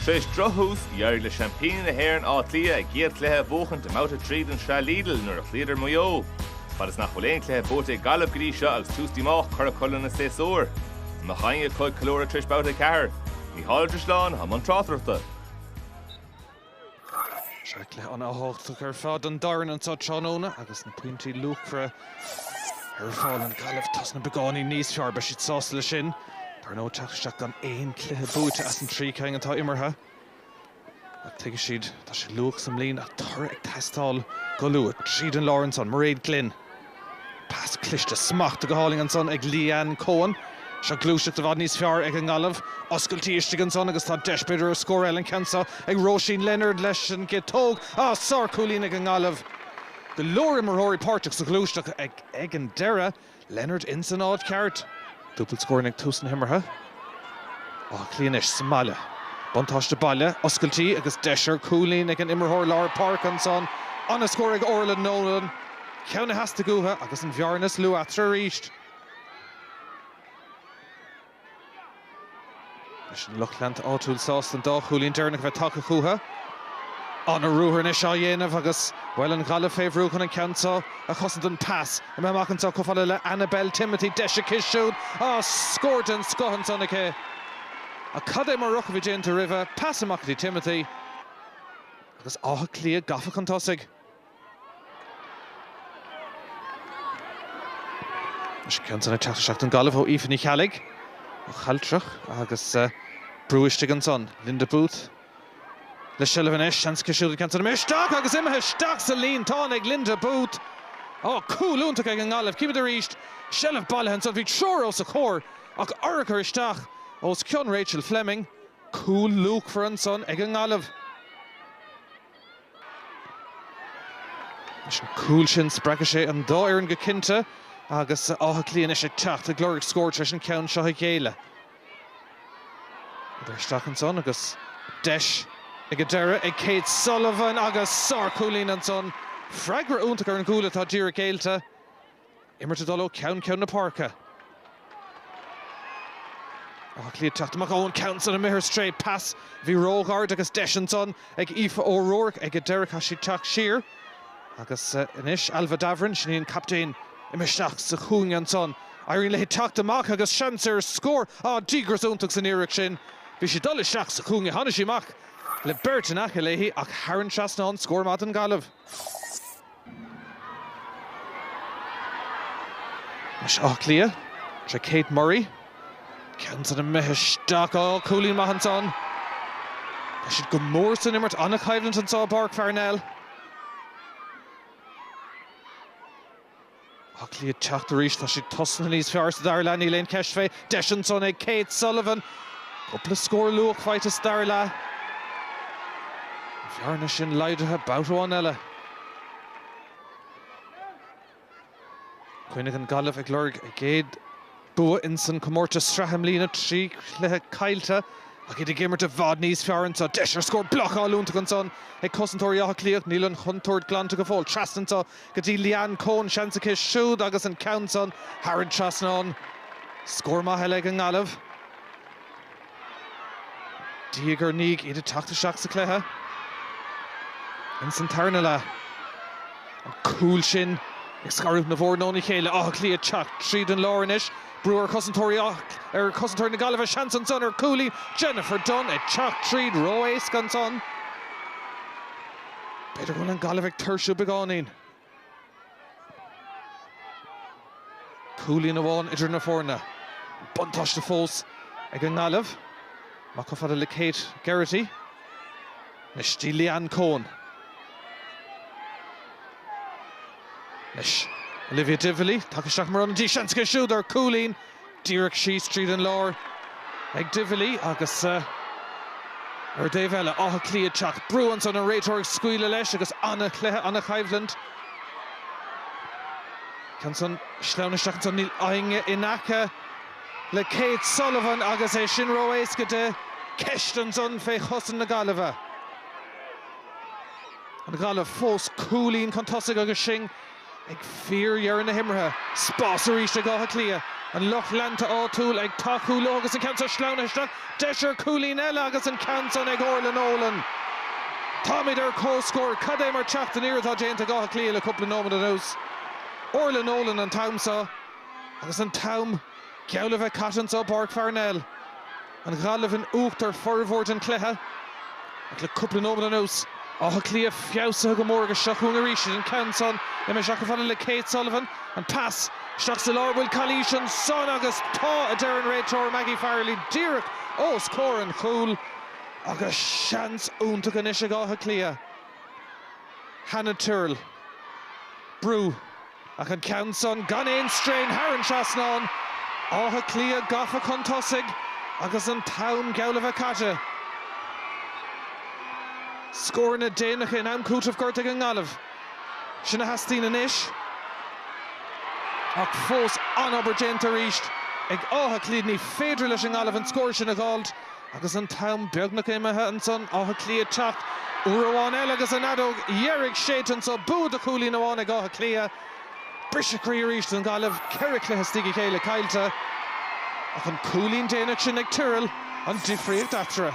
Tar éis drochthús, d'éirigh le seaimpíní na hÉireann Áth Cliath a gcéad chluiche a bhuachaint i mBabhta 3 den tsraith Lidl nuair a chloíodar Maigh Eo. Fad is nach bhfuil aon chluiche buaite ag Gaillimh go dtí seo agus tús díomách curtha acu lena séasúr an mbeidh ceann acu ag ceiliúradh tar éis Babhta 4. Mícheál Ó Drisleáin, i mbun tráchtaireachta. Sea, cluiche an-tábhachtach ar fad don dá fhoireann anso tráthnóna agus na pointí luachmhara ar fáil. An Ghaillimh tosnaithe beagáinín níos fearr, beidh siad sásta le sin. Dar ndóigh teacht isteach gan aon cluiche buaite as an trí cinn atá imeartha. Ach tuigfidh siad, tá sé luath sa mbliain ach toradh ag teastáil go luath. Tríd an lár ansan, Mairéad Glynn. Pas cliste smachta go hálainn ansan ag Leanne Coen. Seo gluaiseacht i bhfad níos fearr ag an nGaillimh. Oscailtí istigh ansan agus tá deis b'fhéidir ar scór eile an ceann seo ag Róisín Leonard leis an gciotóg. Á! Sárchúilín ag an nGaillimh. Go leor imreoirí páirteach sa ghluaiseacht ag an deireadh. Leonard insan áit cheart. Dúbailt scór ann ag tús na himeartha. Áth Cliath anois sa mbaile. Buntáiste baile oscailtí agus deis ar cúilín ag an imreoir lár páirce ansan. An-scór ag Orlagh Nolan. Ceann a theastaigh uathu agus an bhearna is lú eatarthu arís. Anois an lucht leanta áitiúil sásta an dá chúilín deireanach a bheith tagtha chucha. An-ruathar anois á dhéanamh agus, bhuel, an Ghaillimh fé bhrú chun an ceann seo a chosaint an pas imithe amach anseo chomh fada le Annabel Timothy. Deis aici siúd. Á, scór den scoth ansan aici. Ach cad é mar ruathar a bhí déanta roimhe. Pas amach go dtí Timothy. Agus Áth Cliath gafa chun tosaigh. An Ghaillimh ó Aoife Ní Cheallaigh, ó Chealtrach agus brú istigh ansan. Linda Booth le seilbh anois. Seans aici siúd cic isteach agus imithe isteach sa líontán ag Linda Booth. Ó, cúl iontach ag an nGaillimh. Címid arís seilbh bailithe ansan. Bhí triúr os a comhair ach urchar isteach os cionn Rachel Fleming. Cúl luachmhar ansan ag an nGaillimh. Leis an gcúl sin spreagfaidh sé an dá fhoireann go cinnte agus Áth Cliath anois ag teacht ag lorg scór tar éis an ceann seo a ghéilleadh. Idir isteach ansan agus deis ag an deireadh ag Kate Sullivan agus sárchúilín ansan. Freagra iontach ar an gcúl atá díreach géillte. Imirt ag dul ó cheann ceann na páirce. Áth Cliath ag teacht amach ón gceann san imithe ar strae. Pas a bhí róghairid agus deis ansan ag Aoife O'Rourke ag an deireadh. Chaith sí teacht siar agus anois Ailbhe Davoren, sin í an captaen, imithe isteach sa chúinne ansan. Éiríonn léi teacht amach agus seans ar scór. Á, díograis iontach san iarracht sin. Bhí sí ag dul isteach sa chúinne. Tháinigh sí amach le beirt in aice léi ach thar an dtrasnán, scór maith don Gaillimh. Anois Áth Cliath, tá Kate Murray, ceann san imithe isteach. Ó, cúilín maith ansan. Tá siad go mór san imirt, an-choimhlint anso i bPáirc Pharnell. Áth Cliath teacht arís. Tá siad tosaithe níos fearr sa dara leath. Níl aon cheist fé. Deis ansan ag Kate Sullivan. Cúpla scór luath faighte sa dara leath. An bhearna sin laghdaithe babhta amháin eile. I gcoinne na Gaillimhe ag lorg a gcéad. Bua ins an comórtas sraithe i mbliana, trí chluiche caillte ach iad ag imirt i bhfad níos fearr anso. Deis ar scór blocáil iontach ansan ag cosantóirí Átha Cliath ach níl an chontúirt glanta go fóill. Trasna anso go dtí Leanne Coen. Seans aici siúd agus an ceann san thar an dtrasnán. Scór maith eile ag an nGaillimh. Diaidh ar ndiaidh iad ag teacht isteach sa chluiche ins an tarna leath. An cúl sin ag scaradh na bhfoireann óna chéile. Áth Cliath ag teacht tríd an lár anois. Brú ar chosantóirí ar chosantóirí na Gaillimhe. Seans ansan ar chúilín. Jennifer Dunne ag teacht tríd ró-éasca ansan. B'fhéidir go bhfuil an Gaillimh ag tuirsiú beagáinín. Cúilín amháin idir na foirne. Buntáiste fós ag an nGaillimh. Amach chomh fada le Kate Geraghty. Anois go dtí Leanne Coen. Anois Olivia Divilly. Tagtha isteach mar ionadaí. Seans aici siúd ar chúilín. Díreach síos tríd an lár ag Divilly agus ar an dtaobh eile, Áth Cliath ag teacht. Brú ansan, an réiteoir ag scaoileadh leis agus an-chluiche, an-choimhlint. Ansan sleamhnaithe isteach ansan in aice in aice le Kate Sullivan agus é sin ró-éasca di. Ceist ansan fé chosaint na Gaillimhe. An Ghaillimh fós cúilín chun tosaigh agus sinn. Ag fíordheireadh na himeartha, spás arís ag Áth Cliath. An lucht leanta áitiúil ag tacú leo agus an ceann so sleamhnaithe isteach. Deis ar chúilín eile agus an ceann san ag Orla Nolan. Táimid ar comhscór. Cad é mar teacht aniar atá déanta ag Áth Cliath le cúpla nóiméad anuas. Orla Nolan an t-am so agus an t-am geall le bheith caite anso i bPáirc Pharnell. An Ghaillimh in uachtar formhór den chluiche ach le cúpla nóiméad anuas, Áth Cliath feabhsaithe go mór agus seo chugainn arís iad an ceann san imithe chomh fada le Kate Sullivan. An pas isteach sa lár an bhfuil calaois ansan agus tá a deir an réiteoir Maggie Farrelly díreach ós comhair an chúil agus seans iontach anois ag Áth Cliath. Hannah Tyrrell. Brú. Ach an ceann san gan aon strain thar an trasnán. Áth Cliath gafa chun tosaigh agus an t-am geall le bheith caite. Scóranna déanacha in am cúitimh gortaithe ag an nGaillimh. Sin a theastaíonn anois. Ach fós an-obair déanta arís ag Áth Cliath. Ní féidir leis an nGaillimh an scór sin a dh'fháilt Agus an t-am beagnach imithe ansan, Áth Cliath teacht uair amháin eile agus an fheadóg dheiridh séidte anso, bua de chúilín amháin ag Áth Cliath, briseadh croí arís don Ghaillimh, ceithre chluiche as a chéile caillte, ach an cúilín déanach sin ag Tyrrell an difríocht eatarthu.